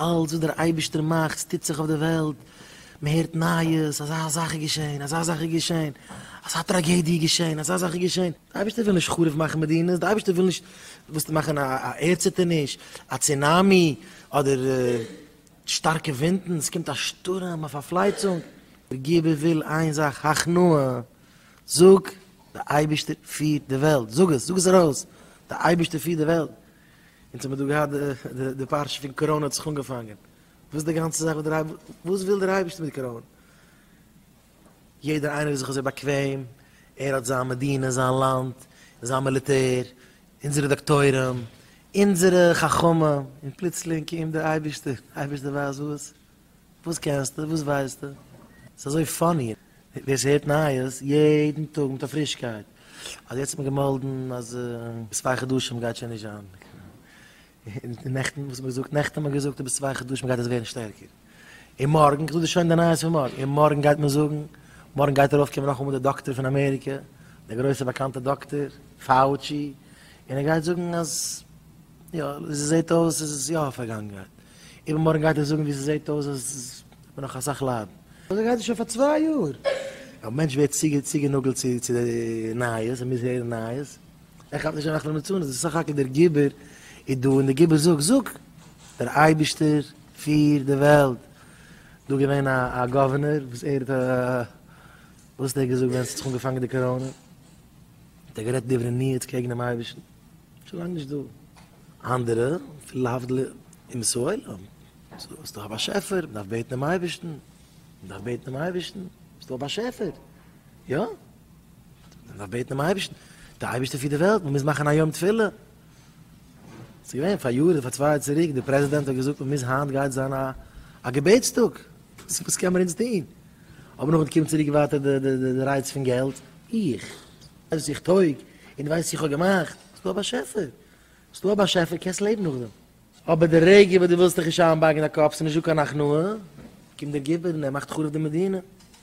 אלץ וואס דער אייבערשטער מאכט, ס'טוט זיך אויף דער וועלט, מען הערט נייעס, אזא זאך איז געשען, אזא זאך איז געשען, אזא טראגעדיע איז געשען, אזא זאך איז געשען, דער אייבערשטער וויל נישט חרוב מאכן מדינות, דער אייבערשטער וויל נישט וויסט מאכן א ערדציטערניש, א צונאמי, אדער שטארקע ווינטן, ס'קומט א שטורעם, א פארפלייצונג, דער גיבור וויל איין זאך, הכנעה, זאג, דער אייבערשטער פירט די וועלט, זאג עס, זאג עס ארויס, דער אייבערשטער פירט די וועלט, אונז האמיר דא געהאט די פרשה פון קאראנע האט זיך אנגעפאנגען, וואס די גאנצע זאך וואס וויל דער אייבערשטער מיט קאראנע? יעדער איינער איז זיך אזוי באקוועם, ער האט זיין מדינה, זיין לאנד, זיין מיליטער, אונזערע דאקטוירים, אונזערע חכמים, און פלוצלינג קומט דער אייבערשטער, אייבערשטער ווייסט וואס, וואס קענסטו? וואס ווייסטו? ס'איז אזוי פאני ווער ס'הערט נייעס יעדן טאג מיט א פרישקייט אז יעצט האט מען געמאלדן אז צוויי חדשים גייט שוין נישט זיין און נעכטן וואס האט מען געזאגט? נעכטן האט מען געזאגט אז ביז צוויי חדשים גייט עס ווערן שטערקער און מארגן כ'זאג דיר שוין די נייעס פון מארגן און מארגן גייט מען זאגן מארגן גייט ארויפקומען נאכאמאל דער דאקטער פון אמעריקע דער גרויסער באקאנטער דאקטער פאוטשי און ער גייט זאגן אז. יא, ווי ס'זעהט אויס איז עס יא פארגאנגענהייט. איבערמארגן גייט ער זאגן ווי ס'זעהט אויס אז ס'וועט נאך אסאך ליידן. אזוי גייט עס שוין פאר צוויי יאר. א מענטש ווערט צוגענאגלט צו די נייעס, ער מוז הערן נייעס. ער כאפט נישט אינאכט למצונות, וואס סך הכל דער גיבור איז דא און דער גיבור זאגט, זאג! דער אייבערשטער פירט די וועלט. דא געווען א גאווערנער וואס ער האט א. וואס האט ער געזאגט ווען ס'האט זיך אנגעפאנגען די קאראנע? האט ער גערעדט דברי ניאוץ קעגן דעם אייבערשטן? שוין נישט דא אנדערע פון להבדיל אומות העולם, ס'איז דא א באשעפער, מ'דארף בעטן דעם אייבערשטן, מ'דארף בעטן דעם אייבערשטן, ס'איז דא א באשעפער, יא, מ'דארף בעטן דעם אייבערשטן, דער אייבערשטער פירט די וועלט, מ'מוז מאכן א יום תפילה, ס'איז געווען פאר יאר אדער פאר צוויי יאר צוריק, דער פרעזידענט האט געזאגט מ'מוז היינט גייט זיין א געבעטס טאג, וואס קען מען אונז טון, אבער נאכדעם קומט צוריק ווייטער די רייץ פון געלט, איך. אז איך טויג און ווייס איך האב געמאכט, ס'איז דא א באשעפער, ס'איז דא א באשעפער קענסט לעבן נאכדעם. אבער די רגע וואס דו ווילסט דיך נישט איינבארגן אין א קאפ ס'איז נישט דא קיין הכנעה, קומט דער גיבור און ער מאכט חרוב די מדינה.